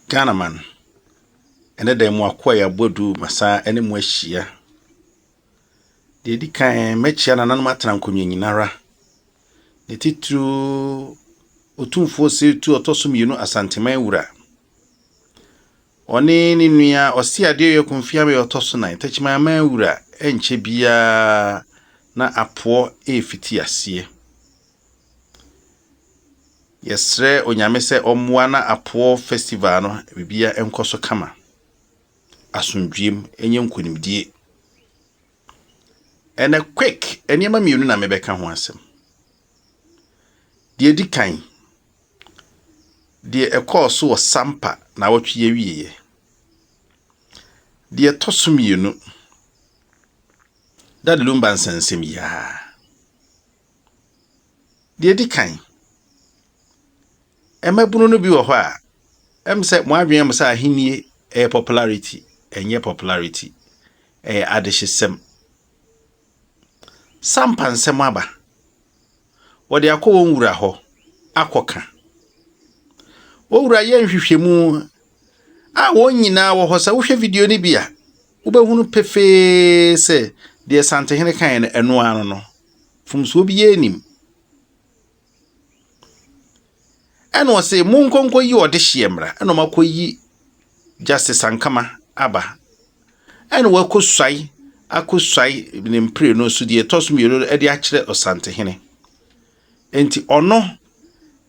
Ghanaman, ɛnɛ da yi mo akoa yɛ abɔdu masan ɛne mo ahyia. Deɛ ɛdi kan mɛkyia nananom atena nkonnwa nyinara. Ne titiriw otumfoɔ seetu ɔtɔ so mmienu asanteman wura. Ɔne ne nua ɔsi adeɛ yɛ konfia mɛ ɔtɔ so nan tɛkyimanman wura ɛnkyɛ biara na apoɔ ɛrefiti aseɛ. Yɛsrɛ Onyame sɛ ɔmmoa na Apoɔ festival no biribiara nkɔ so kama. Asomdwoeɛ mu, ɛnyɛ nkonimdie. Ɛnɛ quick, nneɛma mmienu na mebɛka ho asɛm. Deɛ ɛdi kan, deɛ ɛkɔɔ so wɔ Sampa na awɔtwe yɛ wieɛ. Deɛ ɛtɔ so mmienu, Dade Lumba nsɛnsɛm yi ara. Deɛ ɛdi kan, mmabunu no bi wɔ hɔ a, ɛyɛ me sɛ wɔn adwene mu sɛ ahennie yɛ popularity. Ɛnyɛ popularity, ɛyɛ adehyesɛm. Sampa nsɛm aba. Wɔde akɔ wɔn wura hɔ akɔka. Wɔn wura yɛ nhwehwɛmu a wɔn nyinaa wɔ hɔ. Sɛ wohwɛ video no bi a, Wobɛhunu pefee sɛ deɛ Santehene kaeɛ no, ɛno ara no no. Mfomsoɔ biara nnim. Ɛna ɔse, monkɔ nkɔyi ɔdehyeɛ mmra. Ɛna ɔmakɔyi Justice Sankama aba. Ɛna wakɔsuae akɔsuae ne mpire no so deɛ ɛtɔ so mmienu no de akyerɛ Ɔsantehene. Enti ɔno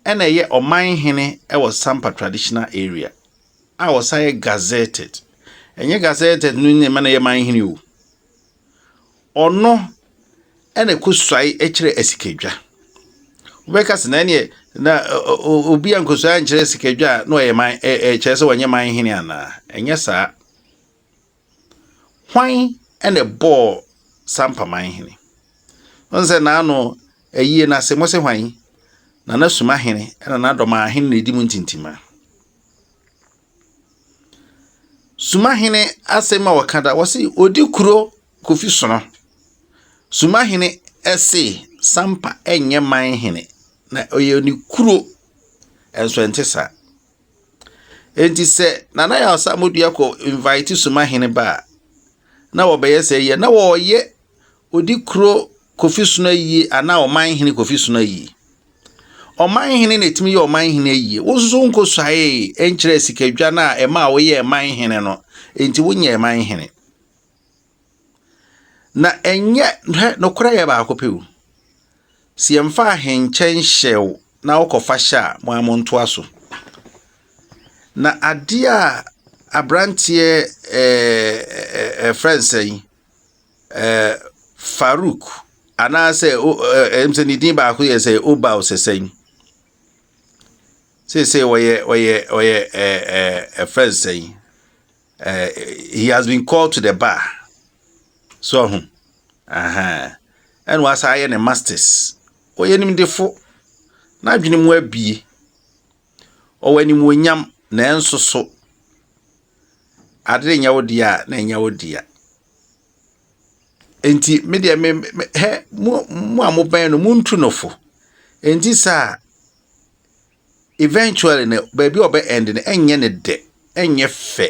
ɛna ɛyɛ ɔman hene wɔ Sampa Traditional Area. a ɔsan yɛ gazetted ɛnyɛ gazetted no na ɛma no yɛ man hene o ɔno ɛna ɛkɔ suae ɛkyerɛ asikadwa wobɛka sɛ na ɛneɛ na obi a nkɔsuae ankyerɛ asikadwa a na ɔyɛ man ɛkyerɛ sɛ wɔnyɛ man hene anaa ɛnyɛ saa Hwan na ɛbɔɔ saa mpaman hene? Wohu sɛ n'ano ayie no ase, mose hwan? Na n'asuma hene na n'adɔmaa hene na ɛdi mu ntintima. Suma hene asɛm a wɔka da, wɔse ɔdi kuro kofi sono. Suma hene se Sampa nyɛ man hene, na ɔyɛ ne kuro, ɛnso ɛnte saa. Enti sɛ Nana Yaw Asamoah-Duah kɔ invite Suma Hene ba a, na wɔbɛyɛ sɛ yɛ na wɔreyɛ odi kuro Kofi Sono ayie anaa ɔman hene Kofi Sono ayie. Ɔman hene na ɛtumi yɛ ɔman hene ayie. Wo nso so wonkɔsuaee nkyerɛ sikadwa no a ɛma a woyɛɛ man hene no, enti wonyɛɛ man hene. Na ɛnyɛ, hwɛ, nokorɛ yɛ baako pɛ o. Sɛ yɛmfa ahenkyɛ nhyɛ wo na wokɔfa hyɛ a, mo ara montoa so. Na adeɛ a aberanteɛ ɛɛ ɛfrɛ nsɛn yi ɛɛ Farouk anaasɛ o ɛɛ ɛm sɛ ne din baako yɛ sɛ Oba Osesɛn yi. Seesei ɔyɛ ɔyɛ ɔyɛ ɛɛ ɛɛ ɛfrɛ nsɛn yi. Uh, he has been called to the bar. So ho. Aha. And was I in the masters? Or oh, any defo. Na adwene mu abie. Or when him wonyam na enso so. Adere nya odia na nya odia. Enti me dia me he mu mu amoban no muntu no fo. Enti sa eventually no baabi a ɔbɛ end no ɛnyɛ ne dɛ ɛnyɛ fɛ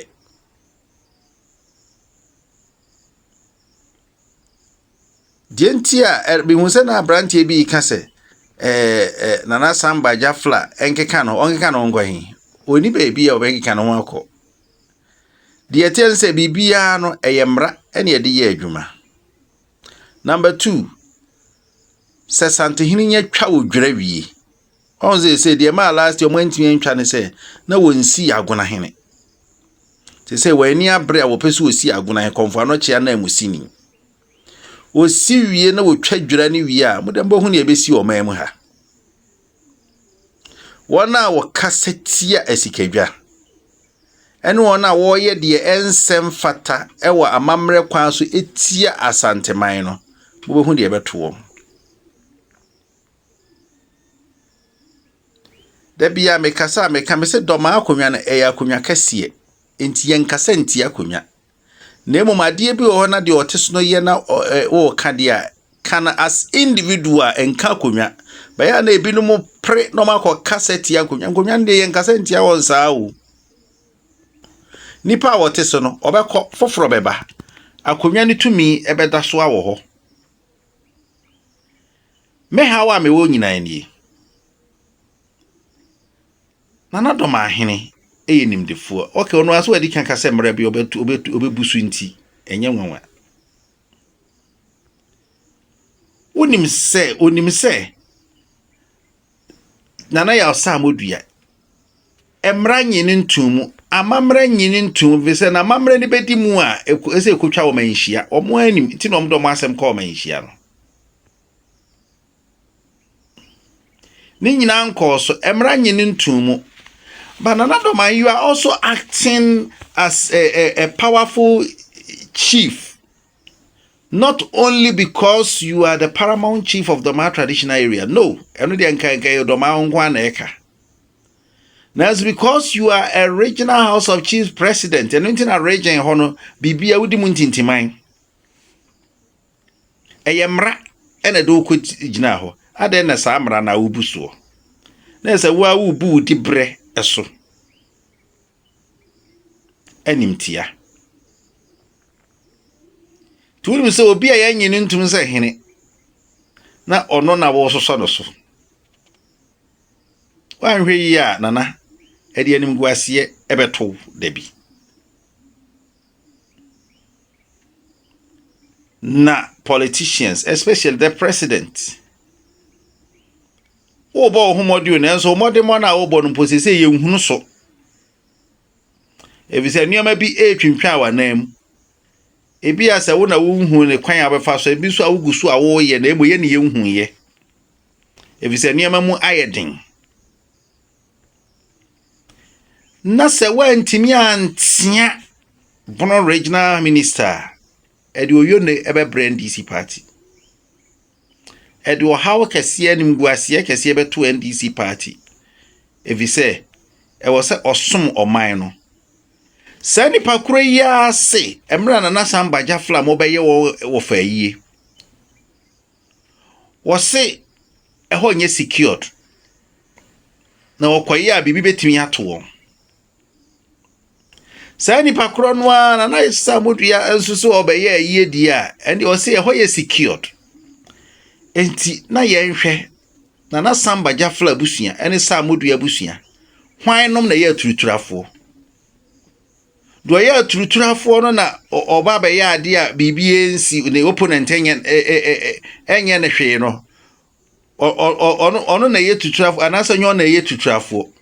deɛ nti a mehu sɛ na aberanteɛ bi ka sɛ ɛɛ nana samba jafla ɛnkeka no ɔnkeka no nkɔ he ɔni baabi a ɔbɛnkeka no ho akɔ deɛ ɛteɛ no sɛ biribiara no ɛyɛ mmara ɛne ɛde yɛ adwuma number two sɛ santehene nya twa wo dwerɛ wie Ɔn sɛ sɛ deɛ ɛmaa last year wɔn antumi antwa ne sɛ na wɔnsi agona hene. Te sɛ wɔn ani abere a wɔpɛ so wɔsi agona hene kɔnfo anɔkyea na mu sini. Wɔsi wie na wɔtwa dwira ne wie a modɛ mbɔ ho ne ɛbɛsi ɔman mu ha. Wɔn a wɔkasa tia asikadwa ɛne wɔn a wɔreyɛ deɛ ɛnsɛ mfata ɛwɔ amammerɛ kwan so ɛtia asanteman no mobɛhu deɛ ɛbɛto wɔn. Da biara a mekasa a meka, mese dɔmaa akonnwa no, ɛyɛ akonnwa kɛseɛ. Nti yɛnkasa ntia akonnwa. Na mmom adeɛ bi wɔ hɔ na deɛ ɔte so no yɛ na wɔreka deɛ a, ka no as individual, nka akonnwa. Bɛyɛ a na ebinom pere na wɔakɔkasa tia akonnwa. Nkonnwa no deɛ yɛnkasa ntia wɔn saa o. Nnipa a wɔte so no, wɔbɛkɔ, foforɔ bɛba. Akonnwa no tumi bɛda so wɔ hɔ. Me haw a mewɔ nyinaa nie. Nana Dɔmahene yɛ nimdefoɔ. Okay, ɔno ara so adi kan ka sɛ mmerɛ bi ɔbɛtu ɔbɛtu ɔbɛbu so nti ɛnyɛ nwanwa. Wonim sɛ onim sɛ Nana Yaw Sɛ a modua. Mmara nye no ntom mu. Amammerɛ nye no ntom mu, ɛfiri sɛ na amammerɛ no bɛdi mu a, ɛsɛ ɛkɔtwa wɔn anhyia. Wɔn anim, nti na wɔn de wɔn asɛm kɔ wɔn anhyia no. Ne nyinaa nkɔɔ so. Mmara nye no ntom mu. But Nana Doman, you are also acting as a, a, a powerful chief Not only because you are the paramount chief of Dormaa traditional area, no, ɛno deɛ nka nka yɛ Dormaa ho nko ara na ɛka. Nanso because you are a regional house of chiefs president, ɛno nti na region hɔ no, biribi a wodi mu ntintiman. Ɛyɛ mmara ɛna ɛde wokɔ gyina hɔ. Adɛn na saa mmara na wobu soɔ? Na ɛsɛ wo a wobu wo di berɛ so. animtia. Nti wonim sɛ obi a yɛnye no ntom sɛ hene na ɔno na wɔresosɔ no so. Woanhwɛ yie a nana ɛde animguaseɛ ɛbɛto wo da bi. Na politicians especially the president Worebɔ wo ho mmɔden o, nanso mmɔdemmɔ no a worebɔ no mpo seesei yɛnhunu so. Efisɛ nneɛma bi retwintwan w'anan mu. Ebia sɛ wo na wonhu ne kwan a wobɛfa so, ebi nso a wogu so a woyɛ na mmom yɛ ne yɛnhu yɛ. Efisɛ nneɛma mu ayɛ den. Na sɛ woantumi antea Bono regional minister a, ɛde oyio ne ɛbɛbrɛ NDC party. Ɛde ɔhaw kɛseɛ animguaseɛ kɛseɛ bɛto NDC party efisɛ ɛwɔ sɛ ɔsom ɔman no. Saa nipa koro yi ara se mmerɛ Nana Sam Bagyafla a mobɛyɛ wɔ wɔ fa ayie. Wɔse ɛhɔ nyɛ secured na wɔkɔyɛ a biribi bɛtumi ato wɔn. Saa nipa korɔ no ara na na Islam dua nso so ɔbɛyɛ ayie die a ɛnde ɔsɛ ɛhɔ yɛ secured. Enti na yɛnhwɛ na na Samba Jafla abusua ne Samodua abusua hwan nom na ɛyɛ aturuturafoɔ. Deɛ ɔyɛ aturuturafoɔ no na ɔba abɛyɛ adeɛ a biribi nsi ne opponent nyɛ ɛnyɛ ne hwee no ɔno ɔno na ɛyɛ tuturafoɔ anaasɛ nyɛ ɔno na ɛyɛ tuturafoɔ.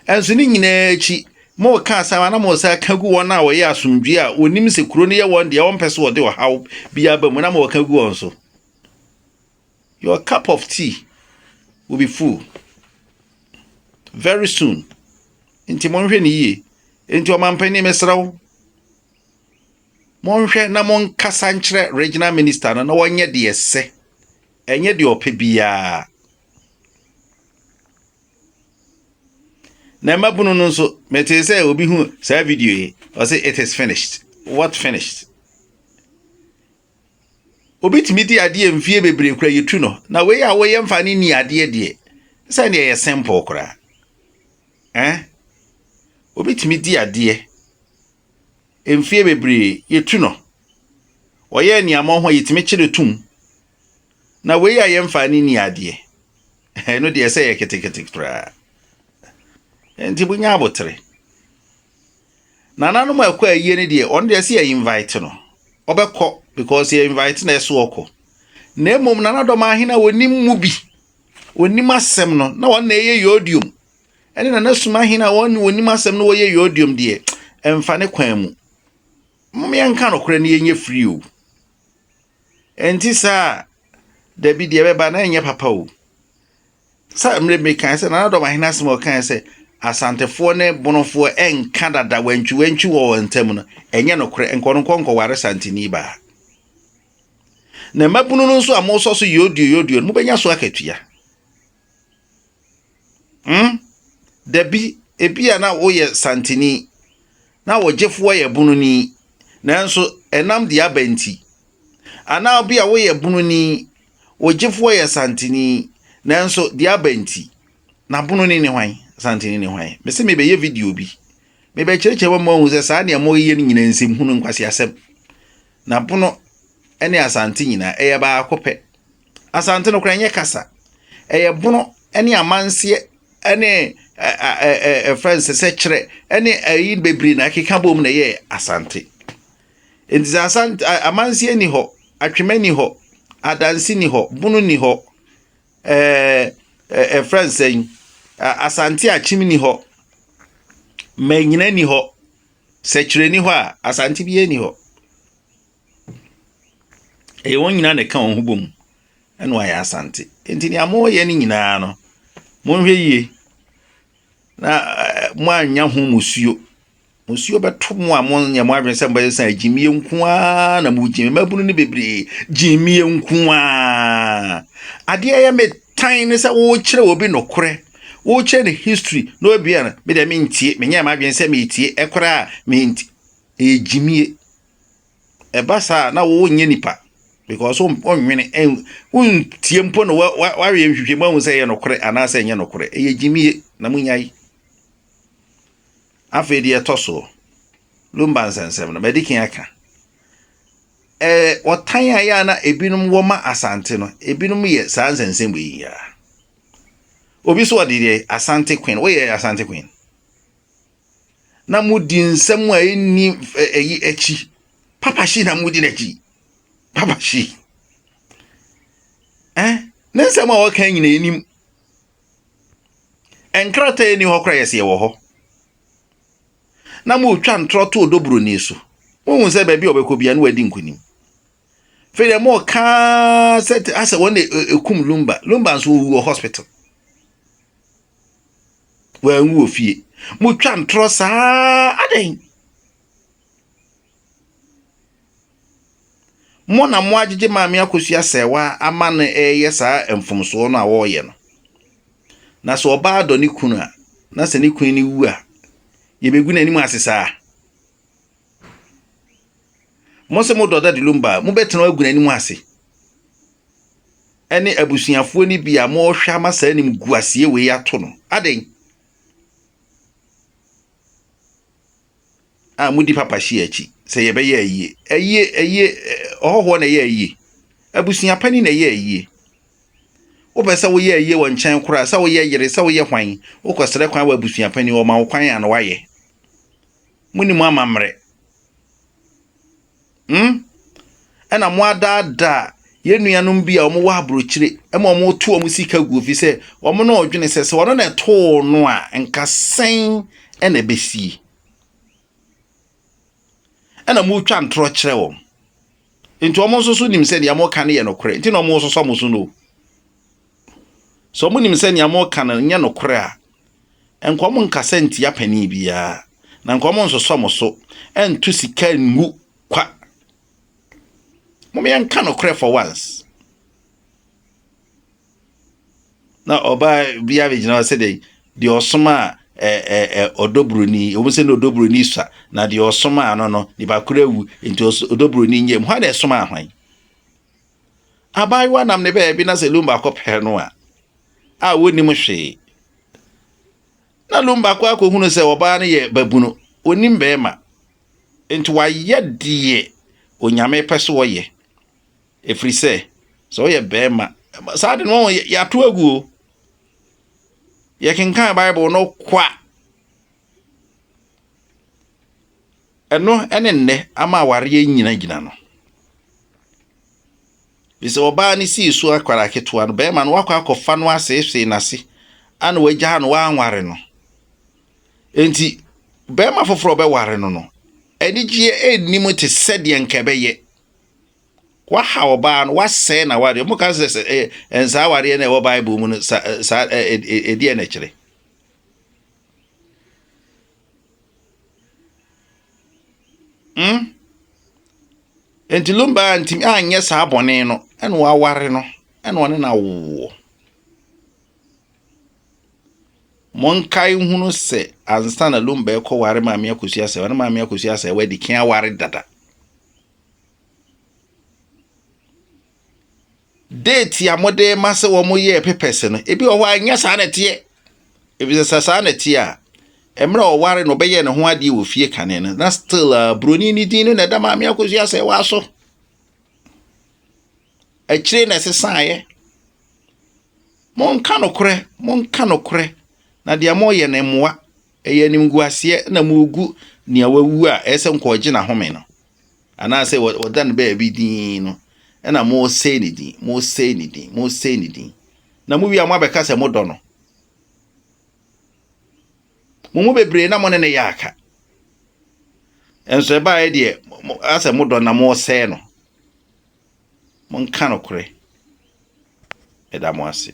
Nanso ne nyinaa akyi, moreka asɛm a na moresan aka gu wɔn a wɔyɛ asomdwoe a wɔnim sɛ kuro no yɛ wɔn deɛ wɔmpɛ sɛ wɔde ɔhaw bi aba mu na moreka gu wɔn so. Your cup of tea will be full very soon. Nti monhwɛ no yie. Nti ɔmampanin mesrɛ wo, monhwɛ na monkasa nkyerɛ regional minister no na wɔnyɛ deɛ ɛsɛ, ɛnyɛ deɛ ɔpɛ biara. Na mmabunu no nso, metee sɛ obi hu saa video yi, ɔse it is finished. What finished? Obi tumi di adeɛ mfie bebree kura yɛtu no, na wei a woyɛ mfa ne ni adeɛ deɛ, sɛ deɛ ɛyɛ simple koraa. Eh? Obi tumi di adeɛ mfie bebree yɛtu no. Ɔyɛ nneɛma ho a yɛtumi kyerɛ tum. Na wei a yɛmfa ne ni adeɛ, ɛno deɛ sɛ yɛ ketekete koraa. Nti mo nya abotere. Nananom a ɛkɔ ayie no deɛ, ɔno deɛ sɛ yɛ invite no, ɔbɛkɔ because yɛ invite na ɛso ɔkɔ. Na mmom nanadɔm ahene a wɔnim mu bi, wɔnim asɛm no, na wɔn na ɛyɛ yodium. Ɛne nanasum ahene a wɔne wɔnim asɛm no wɔyɛ yodium deɛ, ɛmfa ne kwan mu. Mom yɛnka nokorɛ na yɛnyɛ free o. Ɛnte saa a, dabi, deɛ ɛbɛba na ɛnyɛ papa o. Sɛ mmerɛ mekae sɛ Nana Dɔm Ahene asɛm a ɔkae sɛ Asantefoɔ ne Bonofoɔ nka dada wantwiwantwi wɔ wɔn ntam no, ɛnyɛ nokorɛ, nka ɔno nkɔ nkɔware Santini baa. Na mmabunu no nso a mosɔ so yoodio yoodio no, mobɛnya so akatua. Hmm? Dabi, ebia na woyɛ santini, na ɔgyefoɔ yɛ bununi, nanso ɛnam deɛ aba nti. Anaa obi a woyɛ bununi, ɔgyefoɔ yɛ santini, nanso deɛ aba nti. Na bununi ne hwan? Santini ne hwan? Mese mebɛyɛ video bi. Mebɛkyerɛkyerɛ wɔn ahu sɛ saa nea wɔyɛ no nyinaa nsɛm hunu nkwaseasɛm. Na bono ne asante nyinaa ɛyɛ baako pɛ. Asante no koraa ɛnyɛ kasa, ɛyɛ bono ne amanseɛ ne ɛ ɛ ɛ ɛ ɛfrɛ no sɛ sɛkyerɛ ne ɛyi bebree na ɛkeka bom na ɛyɛ Asante. Nti sɛ Asante amanseɛ ni hɔ, atwema ni hɔ, adanse ni hɔ, bono ni hɔ, ɛɛ ɛfrɛ no sɛn Asante akyem ni hɔ, manyina ni hɔ, sɛkyerɛ ni hɔ a Asante biara ni hɔ. Ɛyɛ wɔn nyinaa na ɛka wɔn ho bom na wɔayɛ Asante. Nti nea moreyɛ no nyinaa no, monhwɛ yie na eh, moannya ho musuo. Musuo bɛto mo a monyɛ mo adwene sɛ mobɛyɛ sɛ gyimie nko ara na mogyimi. Mmabunu no bebree, gyimie nko ara. Adeɛ yɛ me tan ne sɛ wokyerɛ obi nokorɛ wokyerɛ ne history na obi a me deɛ mentie menyɛ m'adwene sɛ metie ɛkoraa menti ɛyɛ gyimie Ɛba saa a na wonyɛ nipa because wonwene wontie mpo na wayɛ nhwehwɛmu ahu sɛ ɛyɛ nokorɛ anaasɛ ɛnyɛ nokorɛ. Ɛyɛ gyimie na monyae. Afei deɛ ɛtɔ soɔ, Lumba nsɛnsɛm no madi kan aka. Ɛɛ ɔtan a ɛyɛ a na ebinom wɔ ma Asante no, ebinom yɛ saa nsɛnsɛm wei yi ara. Obi so ɔde deɛ Asante Queen, woyɛ Asante Queen? na modi nsɛm a ɛnni ɛyi akyi papa hye na modi n'akyi papa hye eh ne nsɛm a wɔka nyina anim nkrataa ɛni hɔ kora yɛsɛ yɛwɔ hɔ na motwa ntorɔ to ɔdɔ buroni so wohu sɛ baabi a ɔbɛkɔ bia ne wadi nkonim fei deɛ mɔka sɛ asɛ wɔn na ɛkum lumba lumba nso ɔwuɔ hospital Wanwu wɔ fie. Motwa ntorɔ saa adɛn? Mo na mo agyegye maame akosua sɛɛwa ama no ɛreyɛ saa mfomsoɔ no a wɔreyɛ no. Na sɛ ɔbaa dɔ ne kunu a, na sɛ ne kunu no wu a, yɛbɛgu n'anim ase saa? Mo se modɔ Daddy Lumba a, mobɛtena agu n'anim ase ɛne abusuafoɔ no bi a mohwɛ ama saa anim guaseɛ wei ato no. Adɛn? a mudi papa hyia akyi sɛ yɛbɛyɛ ayie ayie ayie ɔhɔhoɔ na ɛyɛ ayie abusua pani na ɛyɛ ayie wopɛ sɛ woyɛ ayie wɔ nkyɛn koraa sɛ woyɛ yere sɛ woyɛ hwan wokɔsrɛ kwan wɔ abusua pani wɔma wo kwan a na woayɛ Monni mo amammerɛ. Hmm? Ɛna moadaadaa yɛn nuanom bi a wɔwɔ aburokyire ma wɔreto wɔn sika gu fi sɛ wɔn na ɔdwene sɛ sɛ ɔno na ɛtoo no a nka sɛn na ɛbɛsie. Ɛna moretwa ntorɔ kyerɛ wɔn. Enti wɔn nso so nim sɛ nea wɔka no yɛ nokorɛ, enti na wɔresosɔ mo so no. Sɛ wɔnim sɛ nea wɔka no nyɛ nokorɛ a, nka wɔn nkasa ntia panin biara, na nka wɔn nsosɔ mo so, nto sika ngu kwa. Mom yɛnka nokorɛ for once. Na ɔbaa bi abɛgyina hɔ sɛ dɛ deɛ ɔsoma a ɛ ɛ ɛ ɔdɔ buroni wɔn sɛ na ɔdɔ buroni sua na deɛ ɔsoma ano no nipa koro awu nti ɔdɔ buroni nyɛ mu hɔ na ɛsoma ahwan abaayewa nam ne baabi na sɛ lom baako pɛ no a a wɔnim hwee na lom baako akɔhunu sɛ ɔbaa no yɛ babunu ɔnim bɛrima nti wayɛ deɛ onyame pɛ so ɔyɛ Ɛfiri sɛ, sɛ woyɛ barima, saa de no yɛato agu o. Yɛkenkan Bible no kwa. Ɛno ne nnɛ ama awareɛ nyinagyina no. Bi sɛ ɔbaa no sii so akwara ketewa no, barima no wakɔ akɔfa no aseesee n'ase ana wagyaa no wanware no. Enti, barima foforɔ bɛware no no, anigyeɛ nnim te sɛdeɛ nka ɛbɛyɛ. Wahaw ɔbaa no, wasɛe n'awareɛ. Ɔmo ka sɛ sɛ ɛyɛ eh, nsa awareɛ na ɛwɔ Bible mu no sa eh, saa ɛdeɛ eh, na ɛkyerɛ. Hmm? Nti Lumba ntumi anyɛ saa bɔne no ɛna waware no ɛna ɔne no awoɔ. monkae hunu sɛ ansa na lumba ɛkɔ ware maame akosua sɛ ɔne maame akosua sɛ wadi kea ware dada Date a mode rema sɛ wɔyɛɛ papers no, ebi wɔ hɔ a ɛnyɛ saa na ɛteɛ. Efisɛ sɛ saa na ɛteɛ a, mmerɛ a ɔware no ɔbɛyɛɛ ne ho adeɛ wɔ fie kane no, na still a uh, buroni no din no na ɛda maame akosua sɛ ɛwɔ aso. Akyire na ɛsesaeɛ. Monka nokorɛ, monka nokorɛ, na deɛ moyɛ no mmoa. Ɛyɛ animguaseɛ na mogu nea wawu a ɛyɛ sɛ nka ɔgye n'ahome no anaasɛ wɔda no baabi din no na mosɛe ne din mosɛe ne din mosɛe ne din na mowie a moabɛka sɛ modɔ no mo mu bebree na mo ne no yɛ aka nso ɛbaeɛ deɛ asɛ modɔ na mosɛe no monka nokorɛ ɛda mo ase